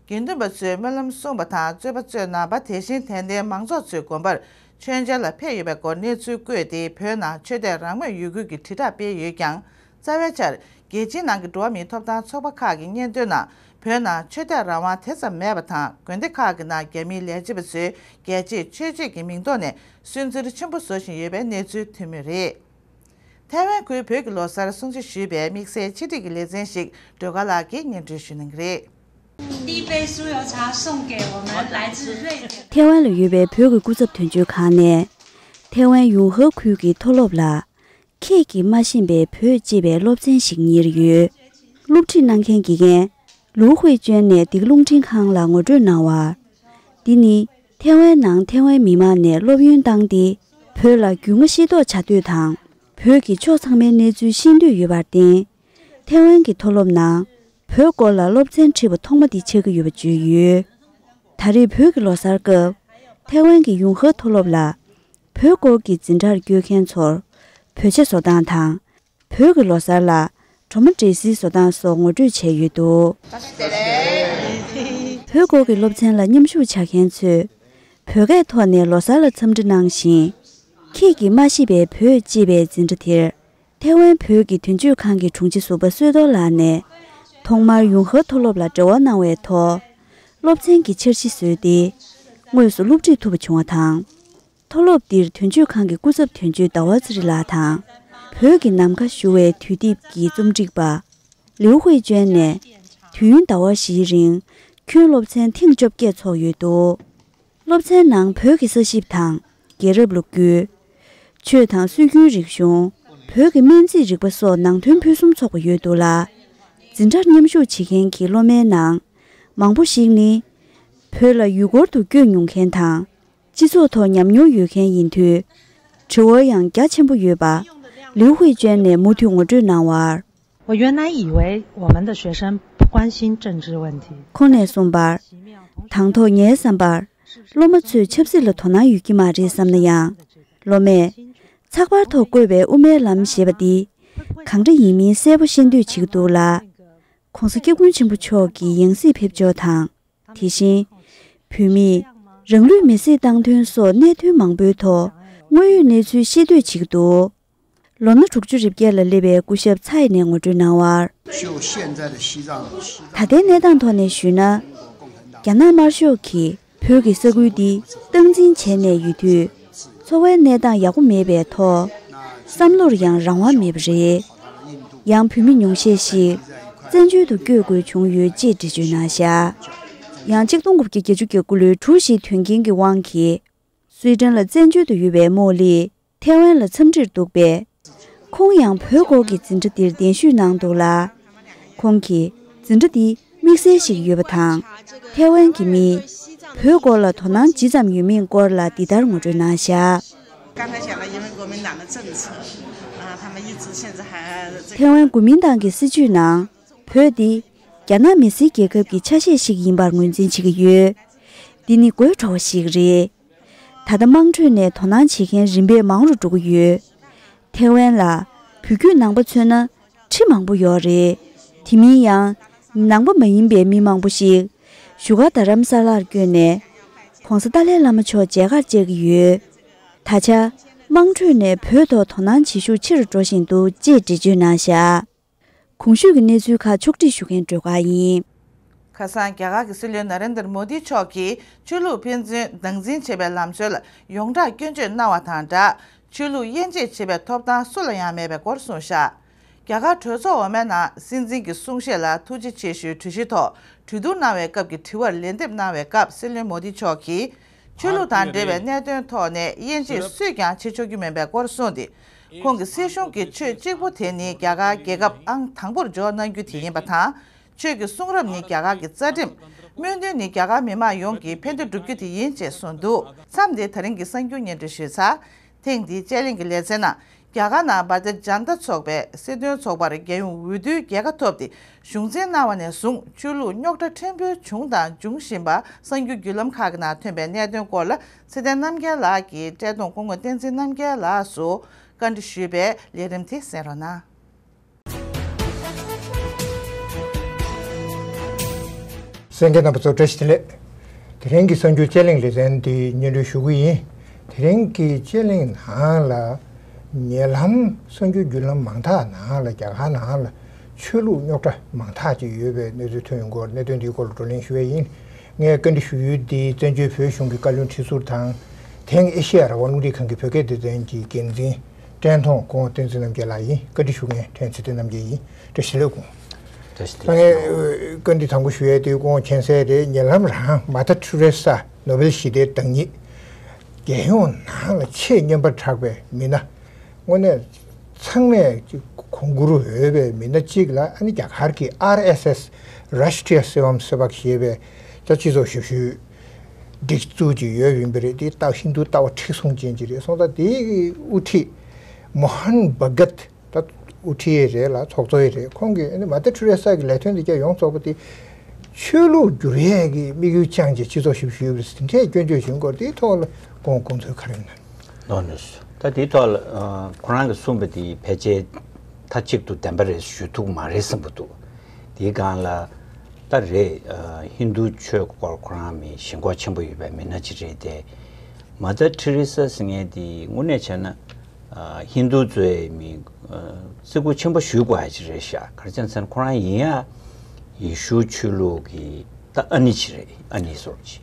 དགེ་འདུན་པ་ཚོས་སྨོན་ལམ་གསུངས་པ་དང་རྩོད་པ་རྩོད་གནང་བ་དེ་བཞིན་དད་ལྡན་མང་ཚོགས་ཚོའི་དགོན་པར་མཆོད་མཇལ་ལ་ཕེབས་ཡོད་པའི་སྐོར་གནས་ཚུལ་བཀོད་དེ་བོད་ནང་ཆོས་དད་རང་མོས་ཡོད་ཁུལ་གྱི་དྲིལ་བསྒྲགས་སྤེལ་ཡོད་ཀྱང་རྩ་བའི་ཆར་རྒྱལ་སྤྱིའི་ནང་གི་འགྲོ་བ་མིའི་ཐོབ་ཐང་ཚོགས་པ་ཁག་གི་སྙན་ཐོའི་ནང་བོད་ནང་ཆོས་དད་རང་དབང་དེ་ཙམ་མེད་པ་དང་དགོན་སྡེ་ཁག་གི་ནང་རྒྱ་མིའི་ལས་བྱེད་པ་ཚོས་རྒྱལ་གཅེས་ཆོས་གཅེས་ཀྱི་མིང་ཐོག་ནས་སུན་གཙེར་ཆེན་པོ་བཟོ་བཞིན་ཡོད་པའི་གནས་ཚུལ་ཐོན་མུས་རེད། ཐའེ་ཝན་ཁུལ་བོད་ཀྱི་ལོ་གསར་སྲུང་བརྩི་ཞུས་པའི་དམིགས་བསལ་ཆིག་སྒྲིག་གི་ལེ་ཚན་ཞིག་སྒྲོལ་དཀར་ལགས་ཀྱིས་སྙན་སྒྲོན་ཞུས་གནང་གི་རེད། ཐེ་ཝན་ལ་ཡོད་པའི་བོད་ཀྱི་སྐུ་ཚབ་དོན་གཅོད་ཁང་ནས། ཐེ་ཝན་ཡུང་ཧྭ་ཁུལ་གྱི་མཐོ་སློབ་ལ། ཁྱེད་ཀྱིས་སྨྲ་བཞིན་པའི་བོད་ཅེས་པའི་སློབ་ཚན་ཞིག་གཉེར་ཡོད། སློབ་ཁྲིད་གནང་མཁན་དགེ་རྒན། ལུའུ་ཧུའེ་ཅོན་ནས་འདི་ག་རླུང་འཕྲིན་ཁང་ལ་ངོ་སྤྲོད་གནང་བར། འདི་ནི་ཐེ་ཝན་ནང་ཐེ་ཝན་མི་མང་ནས་སློབ་ཡོན་བཏང་སྟེ་བོད་ལ་རྒྱུས་མངའ་ཤེས་རྟོགས་བྱ་འདོད་དང་བོད་ཀྱི་ཕྱོགས་ཚང་མའི་གནས་ཚུལ་ཤེས་འདོད་ཡོད་པར་བརྟེན། ཐེ་ཝན་གྱི་མཐོ་སློབ་ནང། བོད་སྐོར་ལ་སློབ་ཚན་ཁྲིད་པ་ཐོག་མ་འདི་ཆགས་ཀྱི་ཡོད་པ་བརྗོད་ཡོད། ད་རེས་བོད་ཀྱི་ལོ་གསར་སྐབས་ཐའེ་ཝན་གྱི་ཡུང་ཧྭ་མཐོ་སློབ་ལ་བོད་སྐོར་གྱི་འཛིན་གྲྭར་བསྐྱོད་མཁན་ཚོར་བོད་ཆས་བཟོ་སྟངས་དང་བོད་ཀྱི་ལོ་གསར་ལ་གྲོ་མ་འབྲས་སིལ་བཟོ་སྟངས་སོགས་ངོ་སྤྲོད་བྱས་ཡོད་འདུག། བོད་སྐོར་གྱི་སློབ་ཚན་ལ་མཉམ་ཞུགས་བྱ་མཁན་ཚོས་བོད་སྐད་ཐོག་ནས་ལོ་གསར་ལ་འཚམས་འདྲི་གནང་ཞིང། ཁྱེད་ཀྱིས་མ་ཤེས་པའི་བོད་ཅེས་པའི་འཛིན་གྲྭ་དེར་ཐའེ་ཝན་བོད་ཀྱི་དོན་གཅོད་ཁང་གི་དྲུང་ཆེ་ཟུར་པ་བསོད་རྡོར་ལགས་ནས། ཐོག་མར་ཡུང་ཧྭ་མཐོ་སློབ་ལ་འབྲེལ་བ་གནང་བའི་ཐོག་སློབ་ཚན་གྱི་འཆར་གཞི་བཟོས་ཏེ། དངོས་སུ་སློབ་ཁྲིད་ཐུབ་པ་བྱུང་བ་དང། མཐོ་སློབ་འདིར་དོན་གཅོད་ཁང་གི་སྐུ་ཚབ་དོན་གཅོད་ཟླ་བ་ཚེ་རིང་ལགས་དང། བོད་ཀྱི་ནམ་མཁའ་བཞུར་བའི་དུས་དེབ་ཀྱི་རྩོམ་སྒྲིག་པ། ལིའུ་ཧུའེ་ཅོན་ནས། དུས་ཡུན་ཟླ་བ་བཞིའི་རིང། ཁྱོན་སློབ་ཚན་ཐེངས་བཅོ་བརྒྱད་འཚོགས་ཡོད་འདུག་སློབ་ཚན་ནང་བོད་ཀྱི་ས་ཞིབ་དང། རྒྱལ་རབས་ལུགས་རྒྱུད། ཆོས་དང་སྲོལ་རྒྱུན་རིག་གཞུང། བོད་ཀྱི་སྨན་རྩིས་རིག་པ་སོགས་ནང་དོན་ཕུན་སུམ་ཚོགས་པ་ཡོད་འདུག་ལ། འཛིན་གྲྭར་མཉམ་ཞུགས་བྱེད་མཁན་གྱི་སློབ་མའི་ནང། མང་པོ་ཞིག་ནི། བོད་ལ་ཡུལ་སྐོར་དུ་བསྐྱོད་མྱོང་མཁན་དང། སྤྱི་ཚོགས་ཐོག་ཉམས་མྱོང་ཡོད་མཁན་ཡིན་དུས། དྲི་བ་ཡང་རྒྱ་ཆེན་པོ་ཡོད་པ། ལིའུ་ཧུའེ་ཅོན་ནས་མུ་མཐུད་ངོ་སྤྲོད་གནང་བར། ཁོ་ནས་གསུངས་པར། དང་ཐོག་ངའི་བསམ་པར། སློབ་མ་ཚོས་ཆབ་སྲིད་ལ་དོ་སྣང་ཡོད་ཀྱི་མ་རེད་བསམ་ན་ཡང། སློབ་མས། ཚགས་པར་ཐོག་བཀོད་པའི་དབུ་མའི་ལམ་ཞེས་པ་འདི། གང་འདྲ་ཡིན་མིན་གསལ་པོ་ཤེས་འདོད་བྱེད་ཀྱི་འདུག་ལ། ྋགོང་ས ྋསྐྱབས་མགོན་ཆེན་པོ་མཆོག་གི་ཡང་སྲིད་ཕེབས་ཕྱོགས་དང། དེ་བཞིན། བོད་མི། རང་ལུས་མེ་བསྲེགས་བཏང་དོན་སོགས་གནད་དོན་མང་པོའི་ཐོག་དངོས་ཡོད་གནས་ཚུལ་ཤེས་འདོད་བྱེད་ཀྱི་འདུག་ལོ་ན་དྲུག་ཅུ་རེ་བརྒྱད་ལ་སླེབས་པའི་སྐུ་ཞབས་ཚ་ཡེ་ནས་ངོ་སྤྲོད་གནང་བར། ད་ལྟའི་གནས་སྟངས་ཐོག་ནས་ཞུས་ན། རྒྱ་ནག་དམར་ཤོག་གིས་བོད་ཀྱི་ས་ཁུལ་འདི་སྟངས་འཛིན་བྱས་ནས་ཡོད་དུས། འཚོ་བའི་གནས་སྟངས་ཡག་པོ་མེད་པའི་ཐོག། བསམ་བློར་ཡང་རང་དབང་མེད་པ་རེད། ཡང་བོད་མི་ཉུང་ཤས་ཤིག་བཙན་བྱོལ་དུ་བསྐྱོད་དགོས་བྱུང་ཡོད་ཅེས་འགྲེལ་བརྗོད་གནང་ཞག་ཡང་གཅིག་སྟོང་དགུ་བརྒྱ་བརྒྱད་ཅུ་གྱ་དགུ་ལོའི་དྲུག་བཞིའི་དོན་རྐྱེན་གྱི་དབང་གིས། སུའེ་ཀྲེན་ལ་བཙན་བྱོལ་དུ་ཡོད་པའི་རྨོ་ལིས། ཐའེ་ཝན་ལ་འཚམས་འདྲིར་འདུག་པས། ཁོང་ཡང་བོད་སྐོར་གྱི་འཛིན་གྲྭ་འདིར་གདན་ཞུས་གནང་འདུག་ལ། ཁོང་གིས་འཛིན་གྲྭ་འདི་དམིགས་བསལ་ཞིག་ཡོད་པ་དང། ཐའེ་ཝན་གྱི་མིས་བོད་སྐོར་ལ་དོ་སྣང་ཇི་ཙམ་ཡོད་མིན་སྐོར་ལ་འདི་ལྟར་ངོ་སྤྲོད་གནང་བཞག། ཐའེ་ཝན་གོ་མིན་ཏང་གི་སྲིད་བྱུས་ནང་བོད་འདི་རྒྱ་ནག་མི་སེར་རྒྱལ་ཁབ་ཀྱི་ཆ་ཤས་ཤིག་ཡིན་པར་ངོས་འཛིན་བྱེད་ཀྱི་ཡོད། འདི་ནི་དགོད་བྲོ་བ་ཞིག་རེད། ད་ལྟ་དམངས་ཁྲོད་ནས་དོ་སྣང་བྱེད་མཁན་རིམ་པས་མང་རུ་འགྲོ་གི་ཡོད། ཐའེ་ཝན་ལ་བུ་རྒྱུད་ནང་པ་མཚོན་ན་ཁྲི་མང་པོ་ཡོད་རེད། དེ་མིན་ཡང་ནང་པ་མ་ཡིན་པའི་མི་མང་པོ་ཞིག་བཞུགས་སྒར་རྡ་རམ་ས་ལར་བསྐྱོད་ནས ྋགོང་ས་ཏཱ་ལའི་བླ་མ་མཆོག་མཇལ་ཁར་བཅར་གྱི་ཡོད། ད་ཆ་དམངས་ཁྲོད་ནས་བོད་ཐོག་དོ་སྣང་བྱེད་ཤུགས་ཆེ་རུ་འགྲོ་བཞིན་འདུག་ཅེས་འགྲེལ་བརྗོད་གནང་བཞག། གོང་ཞུས་ཀྱི་གནས་ཚུལ་ཁག་ཕྱོགས་སྒྲིག་ཞུ་མཁན་སྒྲོལ་དཀར་ཡིན། ཁ་སང་རྒྱ་གར་གྱི་སྲིད་བློན Narendra Modi མཆོག་གིས་ཆོས་ལུགས་ཕན་ཚུན་སྡང་འཛིན་བྱེད་པའི་ལམ་སྲོལ་ཡོངས་གྲགས་སྐྱོན་བརྗོད་གནང་བ་དང་སྦྲགས་ཆོས་ལུགས་དབྱེ་འབྱེད་བྱེད་པའི་ཐོབ་ཐང་སུ་ལ་ཡང་མེད་པའི་སྐོར་གསུངས། ཤར་རྒྱ་གར་གྲོས་ཚོགས་འོག་མའི་ནང་སྲིད་འཛིན་གྱི་གསུང་བཤད་ལ་ཐུགས་རྗེ་ཆེ་ཞུའི་གྲོས་གཞི་ཐོག་གྲོས་བསྡུར་གནང་བའི་སྐབས་ཀྱི་དྲི་བར་ལན་འདེབས་གནང་བའི་སྐབས་སྲིད་བློན Modi མཆོག་གིས། ཆོས་ལུགས་དང་འབྲེལ་བའི་གནད་དོན་ཐོག་ནས་དབྱེ་འབྱེད་སུས་ཀྱང་བྱེད་ཆོག་རྒྱུ་མིན་པའི་སྐོར་གསུངས་ཏེ། ཁོང་གིས་སྲིད་གཞུང་གིས་ཆོས་གཅིག་པུ་དེ་ནི་རྒྱ་གར་རྒྱལ་ཁབ་ཨང་དང་པོར་འཇོག་གནང་རྒྱུ་དེ་ཡིན་པ་དང། ཆོས་ཀྱི་གསུང་རབ་ནི་རྒྱ་གར་གྱི་རྩ་ཁྲིམས། སྨོན་འདུན་ནི་རྒྱ་གར་མི་དམངས་ཡོངས་ཀྱི་ཕན་བདེ་བསྒྲུབ་རྒྱུ་དེ་ཡིན་ཅེས་གསུངས་འདུག་མཚམས་འདིར་ད་རིང་གི་གསར་འགྱུར་སྙན་སྒྲོན་ཞུས་ཚར། ཐེངས་འདིའི་དཔྱད་གླེང་གི་ལེ་ཚན་ནང་རྒྱ་གར་ནང་འབར་རྫས་འཇམ་རྟ་ཚོགས་པའི་སྲིད་དོན་ཚོགས་པར་རྒྱལ་ཡོངས་འོས་བསྡུའི་རྒྱལ་ཁ་ཐོབ་སྟེ་གཞུང་འཛིན་གནང་བ་ནས་བཟུང་ཆོས་ལུགས་རྙོག་དྲ་ཕྲན་བུ་བྱུང་དང་འབྱུང་བཞིན་པ་གསང་རྒྱུད་བརྒྱུད་ལམ་ཁག་གི་ནང་ཐོན་པའི་གནད་དོན་སྐོར་ལ་ཚེ་བརྟན་རྣམ་རྒྱལ་ལགས་ཀྱིས་བཀྲས་མཐོང་སྐུ་ངོ་བསྟན་འཛིན་རྣམ་རྒྱལ་ལགས་སུ་བཀའ་འདྲི་ཞུས་པའི་ལས་རིམ་དེ་གསན་རོགས་གནང། སེང་གེ་རྣམ་པ་ཚོ་བཀྲ་ཤིས་བདེ་ལེགས། དེ་རིང་གི་གསར་འགྱུར་དཔྱད་གླེང་ལེ་ཚན་འདི་སྙན་སྒྲོན་ཞུ་གི་ཡིན། དེ་རིང་གི་དཔྱད་གླེང་ནང་ལ། ཉེ་ལམ་གསར་འགྱུར་བརྒྱུད་ལམ་མང་དག་ནང་ལ་རྒྱ་གར་ནང་ལ་ཆོས་ལུགས་རྙོག་དྲ་མང་དག་ཅིག་ཡོད་པའི་གནས་ཚུལ་ཐོན་ཡོད་སྐོར་གནད་དོན་འདིའི་སྐོར་ལ་བགྲོ་གླེང་ཞུ་བས་ཡིན། ངས་བཀའ་འདྲི་ཞུ་ཡུལ་འདི་བཙན་བྱོལ་བོད་གཞུང་གི་བཀའ་བློན་ཁྲི་ཟུར་དང། དེང་ཨེ་ཤེ་ཡ་རང་དབང་རླུང་རིག་ཁང་གི་བོད་སྐད་སྡེ་ཚན་གྱི་འགན་འཛིན། བཀྲས་མཐོང་ཀོང་སྟོན་ཚེ་རྣམ་རྒྱལ་ལགས་ཡིན་བཀའ་འདྲི་ཞུ་མཁན་བཀྲས་ཚེ་རྣམ་རྒྱལ་ཡིན་བཀྲ་ཤིས་ལགས་ཀོང་ལགས་ངས་བཀའ་འདྲི་དང་པོ་ཞུ་ཡས་དུས་ཀོང་མཁྱེན་གསལ་རེད་ཉེ་ལམ་རང་མ་ཐ་ཐུ་རེ་སཱ་ནོ་བེལ་ཞི་བདེའི་བདག་ཉིད་རྒྱལ་ཡོངས་ནང་ལ་ཆེས་སྙན་པར་གྲགས་པའི་མི་སྣ་དངོས་གནས་ཚང་མས་གོང་བཀུར་འོས་པའི་མི་སྣ་གཅིག་ལ་ཨ་ནི་རྒྱ་གར་གྱི RSS Rashtriya Sevam Sevak ཞེས་པའི་རྩ་སྤྱི་ཚོགས་ཞབས་ཞུ། སྒྲིག་འཛུགས་ཀྱི་ཡོད་རིམ་པ་རེད་དེ་ལྟ་བཞིན་དུ་ལྟ་བ་མཁྲེགས་བཟུང་ཅན་གྱི་རེད་སོང་ད་དེའི་དབུ་ཁྲིད་མོ་ཧན་བྷ་གད་ད་དབུ་ཁྲིད་ཡེ་རེད་ལ་ཚོགས་གཙོ་ཡེ་རེད་ཁོང་གིས་མ་ཏེ་ཁྲུ་རེ་སག་གི་ལས་དོན་འདི་བརྒྱ་ཡོངས་རྫོགས་པ་དེ་ཆོས་ལུགས་བསྒྱུར་ཡས་ཀྱི་དམིགས་ཡུལ་བཅངས་ཀྱིས་སྤྱི་ཚོགས་ཞིབ་བཤེར་ཡོད་པ་དེ་འདྲས་སྐྱོན་བརྗོད་བཞིན་སྐོར་དེའི་ཐོག་ལ་ཁོང་དགོངས་ཚུལ་ག་རེ་གནང། ནོ་ནོ་ད་དེའི་ཐོག་ལ་ཁོ་རང་གིས་གསུངས་པ་དེ་ཕལ་ཆེར་མཐའ་གཅིག་ཏུ་བདེན་པ་རེད་ཞུ་ཐུག་མ་རེད་བསམ་པ་འདུག། དེའི་སྒང་ལ། ད་རེས་ཧིན་རྡུ་ཆོས་སྐོར་ཁོ་རང་མི་ཞེན་ཁོག་ཆེན་པོ་ཡོད་པའི་མི་སྣ་གཅིག་རེད་དེ། Mother Teresa ཟེར་མཁན་དེ་དངོས་གནས་བྱས་ན། ཧིན་རྡུ་གཙོའི་མི་བརྩི་བཀུར་ཆེན་པོ་ཞུས་དགོས་ཡ་གཅིག་རེད་ཤག་གར་བྱས་ཚེ་ཁོ་རང་ཡིན་ཡ། ཡེ་ཤུ་ཆོས་ལུགས་ཀྱི་ད་ཨ་ནི་ཆི་རེད་ཨ་ནི་སོར་ཆི།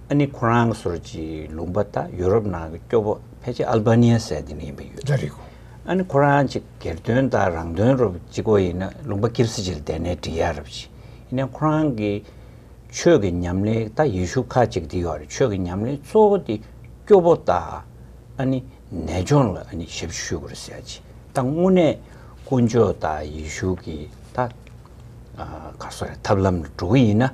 ཨ་ནི་ཁོ་རང་སོར་ཆི་ལུང་པ་ད་ཡུ་རོབ་ནང་གི་སྐྱོ་པོ་ཕལ་ཆེར་ཨལ་བྷ་ནི་ཡ་ཟེར་དེ་ནི་ཡིན་པ་ཡོད་རེད། ཨ་ནི་ཁོ་རང་ཅིག་སྒེར་དོན་དང་རང་དོན་རུ་བགྱིད་དགོས་ཡིན་ན་ལུང་པ་ཀིར་སི་ཇི་ལ་བསྡད་ནས་འབྲི་ཡ་རུ་བགྱིད། ཡིན་ནའི་ཁོ་རང་གི་ཆོས་ཀྱི་ཉམས་ལེན་ད་ཡེ་ཤུ་ཁ་ཅིག་འདི་ཡོད་རེད་ཆོས་ཀྱི་ཉམས་ལེན་གཙོ་བོ་དེ་སྐྱོ་བོ་ད་ཨ་ནི་ནད་སྦྱོང་ལ་ཨ་ནི་ཞབས་ཕྱི་ཞུ་དགོས་རེད་ཟེར་ཡ་ཅིག་ད་དངོས་གནས་དཀོན་མཆོག་ད་ཡེ་ཤུ་གི་ད་ག་སོ་རེད་ཐབས་ལམ་ལ་འགྲོ་གི་ཡིན་ན་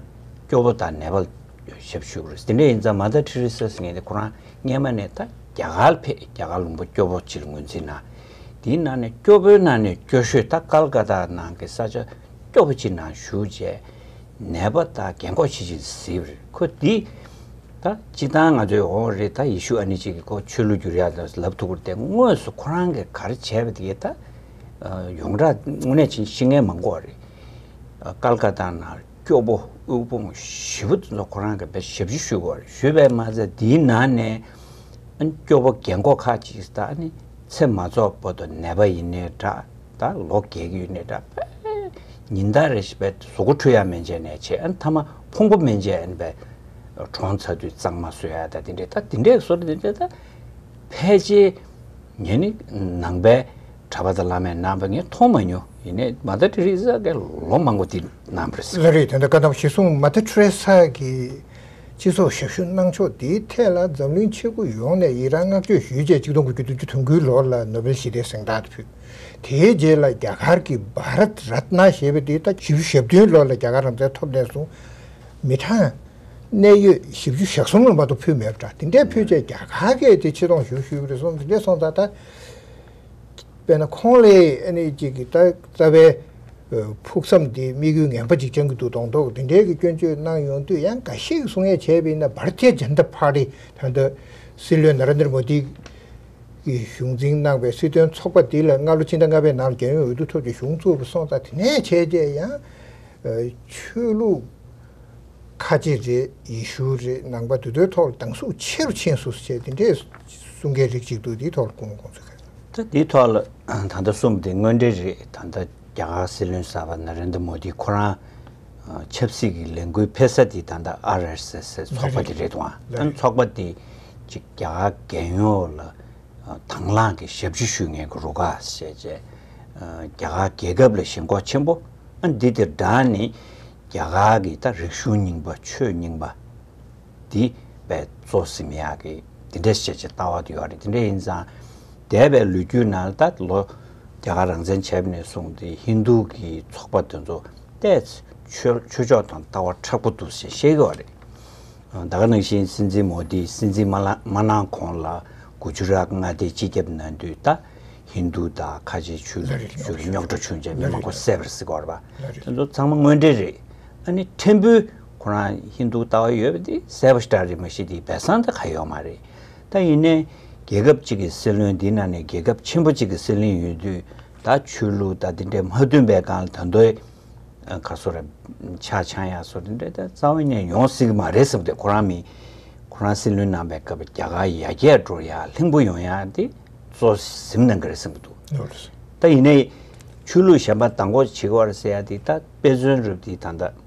སྐྱོ་བོ་ད་ནད་པ་ལ་ཞབས་ཕྱི་ཞུ་དགོས་རེད་དེ་འདྲ་ཡིན་ཙང་མ་ད་ཁྲི་རི་སི་སི་ངེད་ཁོ་རང་སྔས་མ་ནས་ད་རྒྱ་གར་ཕེབས་རྒྱ་གར་ལུང་པ་སྐྱོ་པོ་ཕྱིར་ངོས་འཛིན་གནང། དེའི་ནང་ནས་སྐྱོ་པོའི་ནང་ནས་སྐྱོ་ཤོས་དག་ཀལ་ཀ་ཏཱ་ནང་གི་ས་ཆ་སྐྱོ་པོ་ཕྱི་ནང་བཞུགས་རྗེས་ནད་པ་དག་རྒན་འཁོགས་བྱེད་ཅིང་གཟིགས་པར་ཁོ་འདི་ད་ཅི་སྟངས་ང་ཚོའི་འོང་བ་རེད་ད་ཡེ་ཤུ་ཨ་ནི་ཅིག་གི་ཁོ་ཆོས་ལུགས་བསྒྱུར་ཡག་ལ་ལབ་ཐུག་པར་བལྟས་དངོས་སུ་ཁོ་རང་གིས་གར་བྱས་པ་དེ་ད་ཡོངས་གྲགས་དངོས་གནས་ཤི་རྔན་མ་འགོག་བ་རེད། ཀལ་ཀ་ཏཱ་ནང། སྐྱོ་པོ་དབུལ་ཕོངས་བཞི་བོ་དེ་ཚོ་ཁོ་རང་གི་བེད་ཞབས་ཞུ་ཞུ་དགོས་རེད་ཞུས་པས་མ་ཚད་དེའི་ནང་ནས་སྐྱོ་པོ་རྒན་མགོ་ཁ་ཅིག་དག་ནི་ཚེ་མ་ཚོགས་པོ་དང་ནད་པ་ཡིན་ནའི་འདྲ་ད་ལོ་རྒས་ཀྱི་ཡོད་ནའི་འདྲ་བས་ཉིན་ལྟར་རེ་བཞིན་པའི་བཟོ་ཁོ་འཁྲུ་ཡ་མན་ཆད་ནས་བྱས་མཐའ་མ་ཕུང་པོ་མན་ཆད་ཨེན་པའི་གྲོང་ཚ་དུས་གཙང་མ་བཟོ་ཡ་ད་དེ་འདྲས་ད་དེ་འདྲས་བཟོ་རེ་དེ་འདྲས་ད་ཕལ་ཆེར་ངས་ནི་ནང་པའི་གྲྭ་པ་དང་བླ་མའི་རྣམ་པ་ངས་མཐོང་མ་མྱོང། ཡིན་ནའི Mother Teresa ཀྱང་ལོ་མང་པོ་འདི་ན་མ་རེད། ལ་རེད། དེ་འདྲ་བཀའ་གདམས་གཞི་བཟུང Mother Teresa གིས་སྤྱི་ཚོགས་ཞབས་ཞུ་གནང་ཕྱོགས་དེའི་ཐད་ལ་འཛམ་གླིང་ཆེ་དགུ་ཡོངས་ནས་ཡི་རང་བསྔགས་བརྗོད་ཞུས་རྗེས་གཅིག་སྟོང་དགུ་བརྒྱ་དོན་བཅུ་དོན་དགུའི་ལོར་ལ་ནོ་བེལ་ཞི་བདེའི་གཟེངས་རྟགས་དེ་ཕུལ། དེའི་རྗེས་ལ་རྒྱ་གར་གྱི Bharat Ratna ཞེས་པའི་དེའི་ཟླ་བཞི་བཅུ་ཞེ་བདུན་ལོར་ལ་རྒྱ་གར་རང་བཙན་ཐོབ་ནས་བཟུང་མི་གྲངས་གནད་ཡོད་བཞི་བཅུ་ཞག་གསུམ་ལ་མ་གཏོགས་ཕུལ་མེད་པ་འདྲ། དེ་འདྲའི་ཕུལ་རྗེས་རྒྱ་གར་གྱིས་དེ་ཆེ་མཐོང་ཞུ་ཞུས་པ་རེད་སོང་ཟིན་རྗེས་སོང་ཙང་ད། དཔེར་ན་ཁོང་ལས་ཨེ་ནས་ཅིག་གི་རྩ་བའི་ཕུགས་བསམ་དེ་དམིགས་ཡུལ་ངན་པ་ཅིག་བཅང་གི་འདུག་གདོང་ཐོག་འདི་འདྲའི་གི་སྐྱོན་བརྗོད་གནང་ཡོང་དུས་ཡང་འགའ་ཤས་ཀྱི་གསུང་ཡ་བྱས་པས་ན་བར་ཁྱད་འཇམ་ཐབས་ཕག་རི་ཐང་དུ་སྲིད་བློན་ན་ར་འདིར་མོ་དི་གིས་གཞུང་འཛིན་གནང་པའི་སྲིད་དོན་ཚོགས་པ་དེ་ལ་སྔ་ལོ་ཕྱི་ཟླ་ལྔ་པའི་ནང་ལ་རྒྱལ་ཡོངས་འོས་བསྡུ་ཐོབ་ཅིང་གཞུང་བཙུགས་པ་སོང་ཙང་དེ་ནས་བྱས་རྗེས་ཡང་ཆོས་ལུགས་ཁ་ཆེ་རེད་ཡེ་ཤུ་རེད་ནང་པ་དེ་ཚོའི་ཐོག་ལ་སྡང་ཟུག་ཆེ་རུ་ཕྱིན་སོ་སོ་བྱས་དེ་འདྲའི་གསུང་མཁན་རིགས་གཅིག་འདུག་དེའི་ཐོག་ལ་སྐུ་ངོ་དགོངས་ཚུལ་གསལ་ལ། ད་དེའི་ཐོག་ལ་ད་ལྟ་གསུམ་དེ་དངོས་འབྲེལ་རེད་ད་ལྟ་རྒྱ་གར་སྲིད་བློན་གསར་པ་ན་རེན་དར་མོ་དི་ཁོ་རང་ཆབ་སྲིད་ཀྱི་ལས་འགུལ་འཕེལ་ས་དེ་ད་ལྟ་ཨར་ཨེར་སེ་སེ་ཚོགས་པ་དེ་རེད་དུ་ཨང་ཚོགས་པ་དེ་གཅིག་རྒྱ་གར་རྒན་ཡོལ་ལ་དང་བླངས་ཀྱི་ཞབས་ཕྱི་ཞུ་ངེས་ཀྱི་རུ་ཁག་བྱས་རྗེས་རྒྱ་གར་རྒྱལ་ཁབ་ལ་ཞེན་ཁོག་ཆེན་པོ་ཨང་འདི་དེར་བསྒྲགས་ནས་རྒྱ་གར་གྱི་ད་རིག་གཞུང་རྙིང་པ་ཆོས་རྙིང་པ། འདི་བས་གཙོ་སིམ་ཡ་གི་དེ་འདྲས་བཤད་བྱེད་ལྟ་བ་དུ་ཡོད་རེད་དེ་འདྲས་ཡིན་ཙང། འདས་པའི་ལོ་རྒྱུས་ནང་ད་ལོ་རྒྱ་གར་རང་བཙན་བྱས་པ་ནས་བཟུང་སྟེ་ཧིན་རྡུ་གི་ཚོགས་པ་དེ་ཚོ་བལྟས་ཚེ་ཆོས་ཆོས་ཕྱོགས་དང་ལྟ་བ་ཕྲག་པོ་འདུག་ཞེས་བཤད་ཀྱི་བ་རེད། ད་ག་ནང་བཞིན་སྲིད་འཛིན་མོ་དི་སྲིད་འཛིན་མ་མ་གནང་གོང་ལ་གུ་ཇུ་རཱག་མངའ་སྡེའི་སྤྱི་ཁྱབ་ན་དུས་ད་ཧིན་རྡུ་དང་ཁ་ཆེའི་ཆོས་ལུགས་ཀྱི་ཆོས་ཀྱི་རྙོག་དྲ་བྱུང་རྗེས་མི་མང་པོ་བསད་པར་གཟིགས་པ་རེད་པ་དེ་ཚོ་ཚང་མ་དངོས་འབྲེལ་རེད། ཨ་ནི་ཕྲན་བུ་ཁོ་རང་ཧིན་རྡུ་ལྟ་བ་ཡོད་པ་དེ་གསལ་པོ་ཞིག་གྲགས་རེད་མ་གཞི་དེའི་སྦས་གསང་དེ་ག་ཡོག་མ་རེད་ད་ཡིན་ནའི་རྒྱལ་ཁབ་གཅིག་གི་སྲིད་བློན་འདི་ནང་ནས་རྒྱལ་ཁབ་ཆེན་པོ་གཅིག་གི་སྲིད་བླིན་ཡོད་དུས་ད་ཆོས་ལུགས་ད་དེ་འདྲའི་མ་མཐུན་པའི་སྒང་ལ་ད་མདོའི་ག་སོ་ར་ཆ་ཆང་ཡག་སོ་དེ་འདྲའི་ད་རྩ་བ་ཉན་ཡོང་སྲིད་གི་མ་རེད་བསམ་ཏེ་ཁོ་རང་མི་ཁོ་རང་སྲིད་བློན་ནང་པའི་སྐབས་རྒྱ་གར་ཡ་རྒྱས་འགྲོ་ཡག་ལྷིང་པོ་ཡོང་ཡག་དེ་གཙོ་ཟིམ་གནང་གི་རེད་བསམ་གི་འདུག་ད་ཡིན་ནའི་ཆོས་ལུགས་གཞན་པ་ད་འགོ་བྱེད་གི་བར་ཟེར་ཡག་དེ་ད་དཔེ་མཚོན་རུབ་དེ་ད་ད།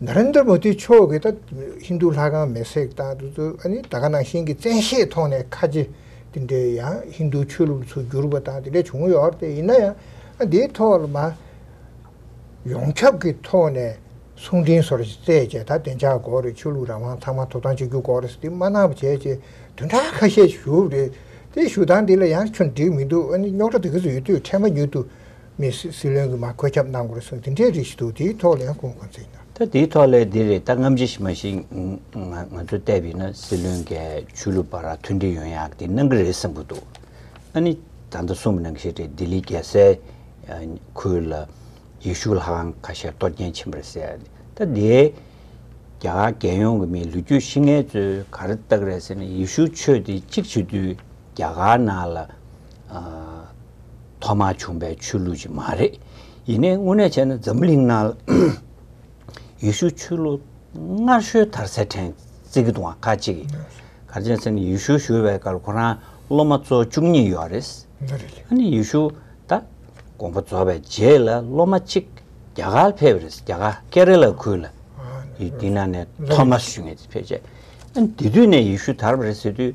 Narendra Modi མཆོག་གིས་ད་ཧིན་རྡུ་ལྷ་ཁང་མེར་སྲེག་བཏང་དུས་སུ་ཨ་ནི་ད་ག་ནང་བཞིན་གྱི་བཙན་ཤེད་ཐོག་ནས་ཁ་ཆེ་དེ་འདྲས་ཡང་ཧིན་རྡུ་ཆོས་ལུགས་ཚུར་བསྒྱུར་བ་དང་དེ་འདྲས་བྱུང་ཡོད་རེད་ཡིན་ན་ཡང་ཨ་འདིའི་ཐོག་ལ་མ་ཡོངས་ཁྱབ་ཀྱི་ཐོག་ནས་གསུང་འཕྲིན་སོར་བསྩལ་བྱས་ད་བདེ་འཇགས་སྒོ་རེད་ཆོས་ལུགས་རང་དབང་ཚང་མ་ཐོབ་ཐང་གཅིག་གྱུར་སྒོ་རེད་དེ་མ་གནང་བ་བྱས་ཅེས་དོན་དག་ཁ་ཤས་ཞུ་རེད་དེ་ཞུ་སྟངས་འདི་ལ་ཡང་ཁྱོད་འགྲིག་མི་འདུག་ཨ་ནི་རྙོག་དྲ་དེ་ག་ཚོད་ཡོད་དུས་འཕྲལ་མ་ཉུལ་དུ་མི་སྲིད་བློན་གྱིས་མ་བཀོད་ཁྱབ་གནང་དགོས་གསུངས་དེ་འདྲའི་རིགས་ཤིག་འདུག་དེའི་ཐོག་ལན་གོང་གོང་ཚིག་གནང། ད་དེའི་ཐོག་ལས་འདི་རེད་ད་རྔམ་བརྗིད་མ་བྱེད། ང་ཚོས་བལྟས་པ་ཡིན་ན་སྲིད་བློན་འགས་ཆོས་ལུགས་པ་ར་མཐུན་སྒྲིལ་ཡོང་ཡག་དེ་གནང་གི་རེད་བསམ་གྱི་འདུག་ཨ་ནི་ད་ལྟ་གསུངས་པ་ནང་ཤེས་རེད་ལྡི་ལི་རྒྱལ་སའི་ཁུལ་ལ་ཡེ་ཤུ་ལྷ་ཁང་ཁ་ཤས་གཏོར་སྐྱེན་ཕྱིན་པ་རེད་ཟེར་ད་དེ་རྒྱ་གར་རྒྱལ་ཡོངས་ཀྱི་མིའི་ལུས་རྒྱུད་ཤི་ངལ་གཙོས་ག་རེ་བཏགས་རེད་ཟེར་ན་ཡེ་ཤུ་ཆོས་དེ་གཅིག་བྱེད་དུས་རྒྱ་གར་ནང་ལ། ཐོག་མར་བྱུང་པའི་ཆོས་ལུགས་ཅིག་མ་རེད། ཡིན་ནའི་དངོས་གནས་བྱས་ན་འཛམ་བུ་གླིང་ནང་ལ་ཡེ་ཤུ་ཆོས་ལུགས་སྔར་ཤོས་དར་ཚད་ཕྲན་ཙིག་དང་ཁ་གཅིག་ཡིན། གར་བྱས་ཚེ་ནི་ཡེ་ཤུ་ཞུ་བའི་སྐར་ཁོ་རང་སློབ་མ་གཙོ་བཅུ་གཉིས་ཡོད་རེད། ཨ་ནི་ཡེ་ཤུ་ད་དགོངས་པ་རྫོགས་པའི་རྗེས་ལ་སློབ་མ་གཅིག་རྒྱ་གར་ཕེབས་རེད་རྒྱ་གར་ཀེ་རེ་ལ་ཁུལ་ལ་ཡི་དེ་ན་ནས་ཐོག་མར་ཞུ་ངེས་ཕེབས་རྗེས་ཨ་ནི་དེ་དུས་ནས་ཡེ་ཤུ་དར་བ་རེད་ཟེར་དུས།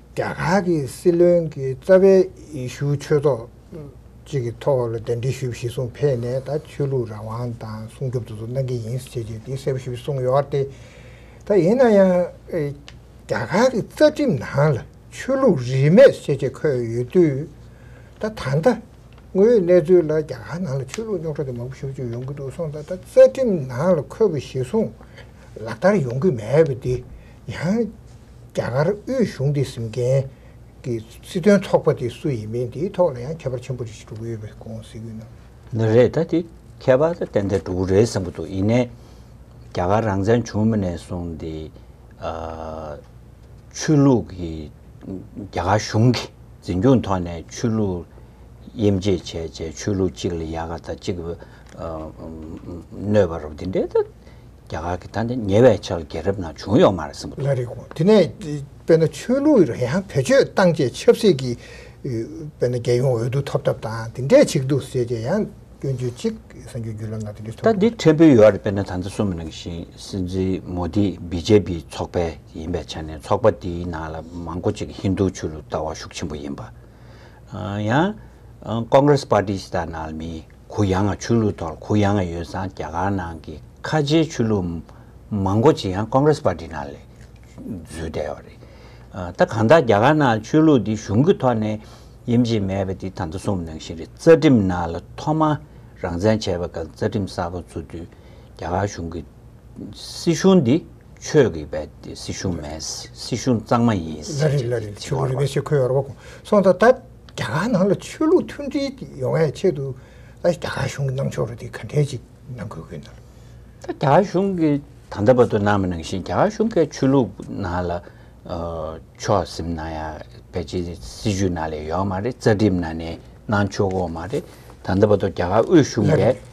རྒྱ་གར་གྱི་སྲིད་བློན་གྱི་རྩ་བའི་ཡེ་ཤུ་ཆོས་ཚོགས་ཅིག་གི་ཐོག་ལ་གདན་འདྲེན་ཞུ་བའི་གཞི་བཟུང་འཕེལ་ནས་ད་ཆོས་ལུགས་རང་དབང་དང་སྲུང་སྐྱོབ་དུ་ཚོགས་གནང་གི་ཡིན་ཞེས་ཀྱི་གསལ་པོ་ཞུ་བའི་གསུང་ཡོད་དེ། ད་ཡིན་ན་ཡང་རྒྱ་གར་གྱི་རྩ་ཁྲིམས་ནང་ལ་ཆོས་ལུགས་རིས་མེད་ཞེས་ཀྱི་འཁོད་ཡོད་དུས། ད་ད་ལྟ་དངོས་ཡོད་གནས་ཚུལ་ལ་རྒྱ་གར་ནང་ལ་ཆོས་ལུགས་རྙོག་དྲ་དེ་མང་པོ་ཞུ་བཅུག་ཡོང་གི་འདུག་སོང་ད་ད་རྩ་ཁྲིམས་ནང་ལ་འཁོད་པའི་གཞི་བཟུང་ལག་བསྟར་ཡོང་གི་མེད་པ་དེ། ཡང། རྒྱ་གར་དབུས་གཞུང་དེ་གཟིམ་མཁན་གྱི་སྲིད་དོན་ཚོགས་པ་དེ་སུ་ཡིན་མིན་དེའི་ཐོག་ལ་ཡང་ཁྱད་པར་ཆེན་པོ་རེ་ཞིག་འགྲོ་གི་ཡོད་པའི་དགོངས་གཟིགས་ཡོད་ན། ནི་རེད་ད་དེ་ཁྱད་པར་དང་ཏན་ཏན་འགྲོ་གི་རེད་བསམ་གྱི་འདུག་ཡིན་ནས། རྒྱ་གར་རང་བཙན་བྱུང་མ་ནས་བཟུང་སྟེ། ཆོས་ལུགས་ཀྱི་རྒྱ་གར་གཞུང་གི་འཛིན་སྐྱོང་ཐོག་ནས་ཆོས་ལུགས་དབྱེ་འབྱེད་བྱས་རྗེས་ཆོས་ལུགས་གཅིག་ལ་ཡག་ག་དང་གཅིག་གནོད་པ་རོགས་དེ་འདྲའི་ཐད་རྒྱ་གར་གྱི་ད་ནི་ཉེ་བའི་ཆར་རྒྱལ་རབས་ནང་བྱུང་ཡོད་མ་རེད་བསམ་པ་འདུག། དེ་ནས་དཔེར་ན་ཆོས་ལུགས་རང་ཡང་བེད་སྤྱོད་བཏང་རྗེས་ཆབ་སྲིད་ཀྱི་དཔེར་ན་རྒྱལ་ཡོངས་འོས་བསྡུ་ཐོབ་ཐབས་དང་དེ་འདྲས་ཆིག་འདུག་ཟེར་རྗེས་ཡང་སྐྱོན་བརྗོད་ཅིག་གསར་འགྱུར་བརྒྱུད་ལམ་ནང་དེ་འདྲས་ཐོབ་ད་འདི་འཕྲད་འབུལ་ཡོད་རེད་དཔེར་ན་ད་ལྟ་སུམ་ནང་བཞིན་སྲིད་འཛིན་མོ་དི་བི་ཇེ་པི་ཚོགས་པའི་ཡིན་པའི་ཆ་ནས་ཚོགས་པ་དེའི་ནང་ལ་མང་པོ་ཅིག་ཧིན་རྡུ་ཆོས་ལུགས་ལྟ་བ་ཤུགས་ཆེན་པོ་ཡིན་པ། ཡང་ཀོང་ཀྲེས་པར་ཏི་ཞེས་ད་ནང་ལ་མི། གུ་ཡངས་ཆོས་ལུགས་ཐོག་གུ་ཡངས་ཡོད་ཙང་རྒྱ་གར་ནང་གི་ཁ་ཆེའི་ཆོས་ལུགས་མང་པོ་ཅིག་ཡང Congress Party ནང་ལས་འཛོལ་བསྡད་པ་རེད། ད་གང་ལྟར་རྒྱ་གར་ནང་ཆོས་ལུགས་འདི་གཞུང་གི་ཐོག་ནས་དབྱེ་འབྱེད་མེད་པ་འདི་ད་ལྟ་གསུངས་ནང་བཞིན་རེད་རྩ་ཁྲིམས་ནང་ལ་ཐོག་མར་རང་བཙན་བྱས་པ་དང་རྩ་ཁྲིམས་གསར་པ་བཙུགས་དུས་རྒྱ་གར་གཞུང་གི་སྲིད་གཞུང་འདི་ཆོས་ཀྱི་བའི་སྲིད་གཞུང་མེད་སྲིད་གཞུང་གཙང་མ་ཡིན་ཟེར་གྱི་བྱུང་བ་རེད། རྒྱ་གར་ནང་ལ་ཆོས་ལུགས་མཐུན་སྒྲིལ་ཡོང་བའི་ཆེད་དུ་རྒྱ་གར་གཞུང་གི་གནང་ཕྱོགས་རེ་དེ་ག་འདྲས་ཅིག་གནང་དགོས་ཀྱི་འདུག། ད་རྒྱ་གར་གཞུང་གི་ད་ལྟ་བར་དུ་གནང་མི་གནང་བཞིན་རྒྱ་གར་གཞུང་གི་ཆོས་ལུགས་ནང་ལ་ཕྱོགས་ཟིན་གནང་ཡ་བའི་ཆེད་དུ་སྲིད་བྱུས་ནང་ལས་ཡོད་མ་རེད་རྩ་ཁྲིམས་ནང་ནས་གནང་ཆོག་གོ་མ་རེད། ད་ལྟ་བར་དུ་རྒྱ་གར་དབུས་གཞུང་གི་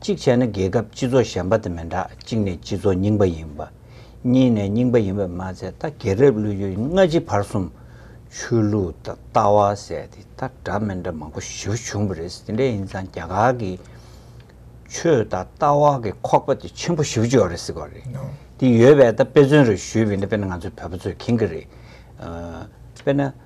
གཅིག་བྱས་ན་རྒྱལ་ཁབ་སྤྱི་ཚོགས་ཞན་པ་དེ་མི་འདྲ་གཅིག་ནས་སྤྱི་ཚོགས་རྙིང་པ་ཡིན་པ། གཉིས་ནས་རྙིང་པ་ཡིན་པར་མ་ཟད་ད་གེ་རེབ་ཀླུ་ཡུལ་སྔ་ཕྱི་བར་གསུམ། ཆོས་ལུགས་དང་ལྟ་བ་ཟེར་ཏེ་ད་འདྲ་མི་འདྲ་མང་པོ་ཞི་བ་བྱུང་བ་རེད་དེ་འདྲ་ཡིན་ཙང་རྒྱ་གར་གྱི་ཆོས་དང་ལྟ་བ་གི་ཁོག་པ་དེ་ཆེན་པོ་ཞི་བ་བྱུང་བ་རེད་ཟེར་གི་རེད། དེ་ཡོད་པས་ད་དཔེ་མཚོན་རེ་ཞུས་བས་ན་དཔེ་ན་ང་ཚོའི་བོད་པ་ཚོས་མཁྱེན་གི་རེད། དཔེ་ན།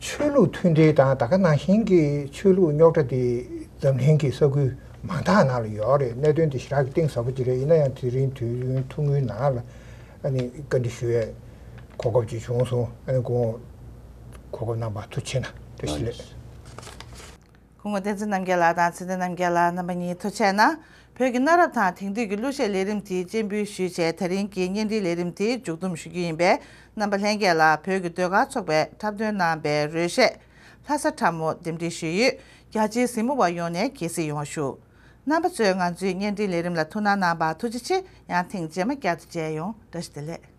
ཆོས་ལུགས་མཐུན་འབྲེལ་དང་ད་ག་ནང་བཞིན་གྱི་ཆོས་ལུགས་རྙོག་དྲ་དེ་འཛམ་གླིང་གི་ས་ཁུལ་མང་དག་ནང་ལ་ཡོད་རེད་གནད་དོན་དེ་ཞི་རགས་ཀྱི་གཏིང་ཟབ་པོ་དེ་རེད་ཡིན་ན་ཡང་དེ་རིང་དུས་ཡུན་ཐུང་ངུའི་ནང་ལ་བཀའ་འདྲི་ཞུ་བའི་གོ་སྐབས་ཅིག་བྱུང་སོང་གོ་སྐབས་གནང་བར་ཐུགས་ཆེ་ན་ཐུགས་ཞི་ལེགས། ཁོང་བསྟན་འཛིན་རྣམ་རྒྱལ་ལགས་དང་ཚེ་བརྟན་རྣམ་རྒྱལ་ལགས་རྣམ་པ་གཉིས་ཐུག་ཆད་ན། བོད་ཀྱི་གནའ་རབས་དང་དེང་དུས་ཀྱི་གླུ་གཞས་ལས་རིམ་དེའི་སྤྱན་འབུལ་ཞུས་ཆེད་ད་རིང་གི་གཉེན་སྒྲིག་ལས་རིམ་དེ་མཇུག་བསྡོམས་ཞུ་རྒྱུ་ཡིན་པས་རྣམ་པ་ལྷན་རྒྱས་ལ་བོད་ཀྱི་ཟློས་གར་ཚོགས་པས་འཁྲབ་སྟོན་གནང་པའི་རོལ་གཞས། ལྷ་ས་ཁྲ་མོ་འདེམས་སྒྲིག་ཞུས་ཡོད་རྒྱ་ཆེའི་གཟིགས་མོ་བ་ཡོངས་ནས་གྱེས་གཟིགས་ཡོང་བ་ཞུ། རྣམ་པ་ཚོས་ང་ཚོའི་གཉེན་སྒྲིག་ལས་རིམ་ལ་ཐུགས་སྣང་གནང་བར་ཐུགས་རྗེ་ཆེ་ཡང་ཐེངས་རྗེས་མ་བསྐྱར་དུ་མཇལ་ཡོང་བཀྲ་ཤིས་བདེ་ལེགས།